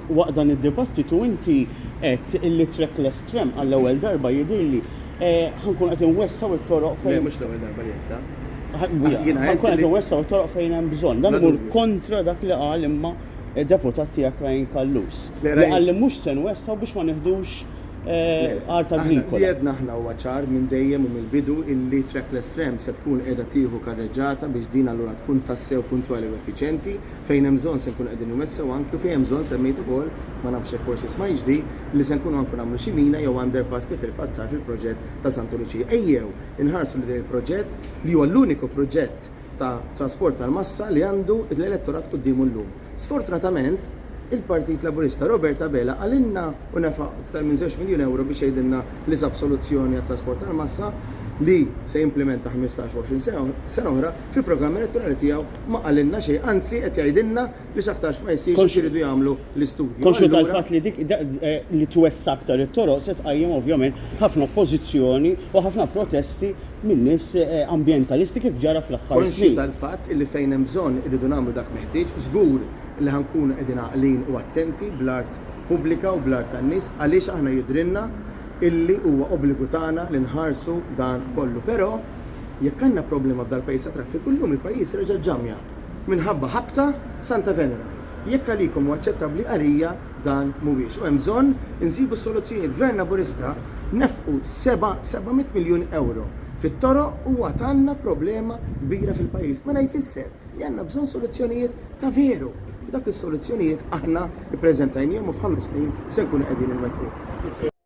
Waqt dan id-dibattitu inti għedt li trackless tram għall-ewwel darba jidhirli ħa nkunu qed inwessgħu t-toroq fejn. Le, mhux l-ewwel darba li għedtha. Ħa nkunu qed inwessgħu t-toroq fejn hemm bżonn. Dan imur kontra dak li qal imma deputat tiegħek Ryan Callus li qal li mhux se nwessgħu biex ma nieħdux art agrikola. Li għedna aħna huwa ċar minn dejjem u mill-bidu illi trackless tram se tkun qiegħda tieħu karreġġata biex din allura tkun tassew puntwali u effiċjenti. Fejn hemm bżonn se nkunu qegħdin nwessgħu anki u fejn hemm bżonn semmejt ukoll, ma nafx jekk forsi smajtx di, li se nkunu anki nagħmlu xi mina jew underpass kif fil-fatt sar fil-proġett ta' Santa Luċija. Ejjew inħarsu lejn dan il-proġett li huwa l-uniku proġett ta' trasport tal-massa li għandu l-elettorat quddiemu llum. Sfortunatament, il-Partit Laburista Robert Abela qalilna u nefaq iktar minn żewġ miljun ewro biex jgħidilna li sab soluzzjoni għat-trasport tal-massa li se jimplimenta ħmistax u għoxrin sena oħra fil-programm elettorali tiegħu ma qalilna xejn, anzi qed jgħidilna li x'aktarx ma jsirx għax iridu jagħmlu l-istudju. Konxju tal-fatt li dik li twessa' aktar it-toroq se tqajjem ovvjament ħafna oppożizzjoni u ħafna protesti minn nies ambjentalisti kif ġara fl-aħħar snin. Konxju tal-fatt li fejn hemm bżonn irridu nagħmlu dak meħtieġ, żgur li ħa nkunu qegħdin għaqlin u attenti bl-art pubblika u bl-art tan-nies għaliex aħna jidhrilna illi huwa obbligu tagħna li nħarsu dan kollu. Però Jekk għandna problema f'dal-pajjiż ta' traffiku, llum il-pajjiż reġa' ġġammja minħabba ħabta Santa Venera. Jekk għalikom hu aċċettabbli, għalija dan mhuwiex. U hemm bżonn insibu s-soluzzjonijiet. Gvern Laburista nefqu seba' seba' mitt miljun ewro fit-toroq u għad għandna problema kbira fil-pajjiż. Mela jfisser li għandna bżonn soluzzjonijiet ta' veru. U dak is-soluzzjonijiet aħna ppreżentajnihom u f'ħames snin se nkunu qegħdin inwettquhom.